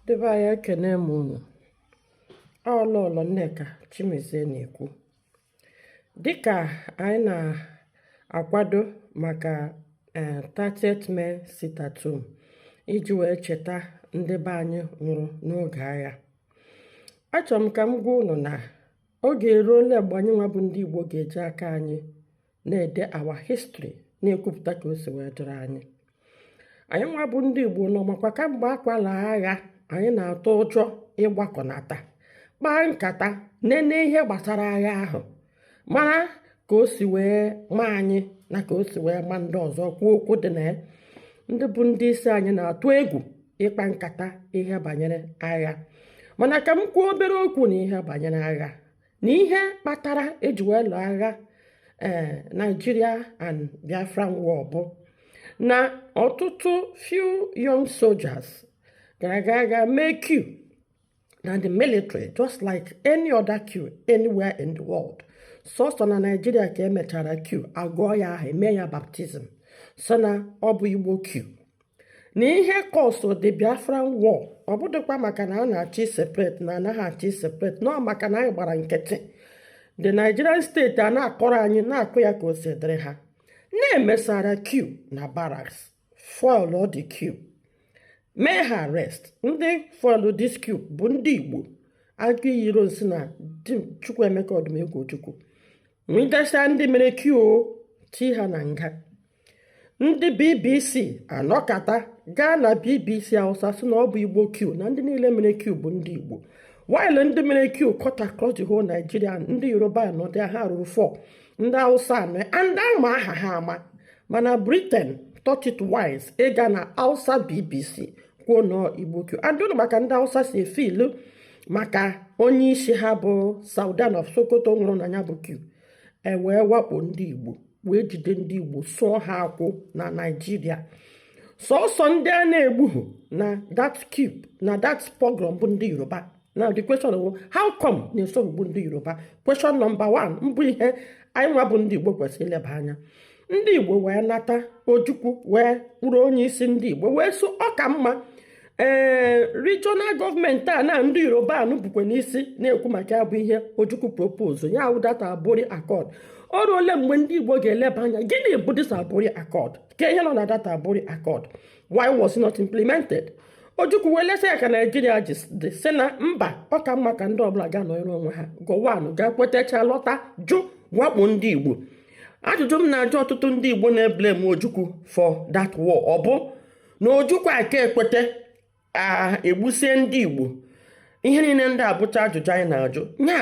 Ndị be anyị ekene m unu ọ Lọlọ Nneka Chimezie na-ekwu dịka anyị na-akwado maka 30th eh, May sit at home iji wee cheta ndị be anyị nwụrụ n'oge agha achọrọ m ka m gwa unu na oge eruola mgbe anyị nwa bụ ndị Igbo ga-eji aka anyị na-ede our history na-ekwupụta ka o si wee dịrị anyị anyị nwa bụ ndị Igbo unu makwa kamgbe akwala agha anyị na-atụ ụjọ ịgbakọnata kpaa nkata nene ihe gbasara agha ahụ mara ka o si wee ma anyị na ka o si wee ma ndị ọzọ kwuo okwu dị na ya ndị bụ ndị isi anyị na-atụ egwu ịkpa nkata ihe banyere agha mana ka m kwuo obere okwu na ihe banyere agha na ihe kpatara eji wee lụọ agha ee eh, Nigeria and Biafran war bụ na ọtụtụ few young soldiers gara aga aga mee coup na the military just like any other coup anywhere in the world sọsọ na Nigeria ka emechara coup agụọ ya aha eme ya baptism so na ọ bụ Igbo coup na ihe cause the Biafran war ọ bụdịkwa maka na a na-achọ ị separate na anaghị achọ ị separate na ọ maka na anyị gbara nkịtị the Nigerian state a na-akọrọ anyị na-akọ ya ka o si dịrị ha na e mesara coup na barracks foil the coup mee ha arrest ndị foil this coup bụ ndị Igbo Aguiyi Ironsi na Chukwuemeka Odumegwu Ojukwu nwụdesịa ndị mere coup ti ha na nga ndị bbc anọkata gaa na bbc hausa sị na ọ bụ igbo coup na ndị niile mere coup bụ ndị igbo while ndị mere coup cut across the whole nigeria ndị yoruba anọdị ha ruru 4 ndị hausa nọ and a ma aha ha ama mana britain thought it wise ịga na hausa bbc kwuo na ọ igbo coup and unu ma ka ndị hausa si e feel maka onye isi ha bụ sardauna of sokoto nwụrụ na ya bụ coup e wee wakpo ndị Igbo wee jide ndị Igbo sụọ ha akwụ na Naịjirịa sọsọ ndị a na-egbughị na that coup na that pogrom bụ ndị Yoruba now the question is how come na esoghị gbuo ndị Yoruba question number 1 bụ ihe anyị nwa bụ ndị Igbo kwesịrị ileba anya ndị igbo wee nata ojukwu wee bụrụ onye isi ndị igbo wee sị ọ ka mma ee regional government a na ndị yoruba nọ bukwa n'isi na-ekwu maka ya bụ ihe ojukwu propose ya wụ that aburi accord o ruole mgbe ndị igbo ga-eleba anya gịnị bụ this aburi accord kee ihe nọ na that aburi accord why was it not implemented ojukwu wee lesa ya ka naijiria ji dị sị na mba ọ ka mma ka ndị ọbụla gaa nọrọ onwe ha gowon gaa kwetacha lọta jụ wakpo ndị igbo ajụjụ m na-ajụ ọtụtụ ndị Igbo na-eblame Ojukwu for that war ọ bụ na Ojukwu aka ekweta egbusie ndị Igbo ihe niile ndị a bụcha ajụjụ anyị na-ajụ nya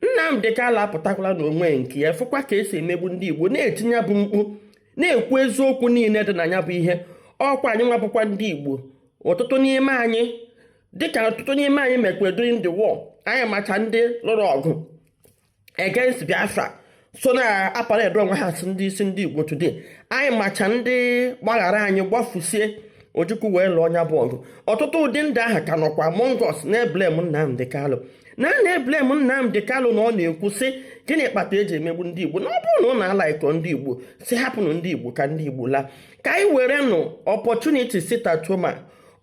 Nnamdi Kanu apụtakwala na onwe nke ya fụkwa ka esi emegbu ndị Igbo na-eti nya bụ mkpu na-ekwu eziokwu niile dị na ya bụ ihe ọ kwa anyị nwa bụkwa ndị Igbo ọtụtụ n'ime anyị dịka ọtụtụ n'ime anyị mekwa during the war anyị macha ndị lụrụ ọgụ against Biafra so na-aparade onwe ha as ndị isi ndị Igbo today anyị macha ndị gbaghara anyị gbafusie Ojukwu wee lụọ nya bụ ọgụ ọtụtụ ụdị ndị ahụ ka nọkwa among us na-eblame Nnamdi Kanu na na-eblame Nnamdi Kanu na ọ na-ekwu sị gịnị kpata eji emegbu ndị Igbo na ọ bụrụ na unu alaikọ ndị Igbo sị hapụnụ ndị Igbo ka ndị Igbo laa ka anyị werenụ opportunity sit-at-home a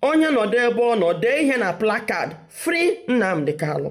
onye nọdụ ebe ọ nọ dee ihe na placard free Nnamdi Kanu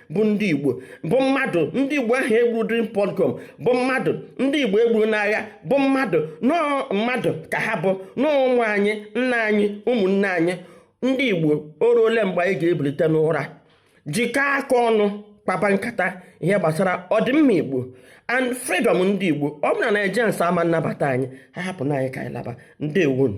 bụ ndị igbo bụ mmadụ ndị igbo ahụ egburu during pogrom bụ mmadụ ndị igbo egburu n'agha bụ mmadụ nọọ mmadụ ka ha bụ nọọ ụmụ anyị nna anyị ụmụnne anyị ndị igbo o ruo ole mgbe anyị ga-ebilite n'ụra jikọọ aka ọnụ kpaba nkata ihe gbasara ọdịmma igbo and freedom ndị igbo ọ bụ na Nigerians ama nnabata anyị ha hapụ na anyị ka anyị laba ndewonụ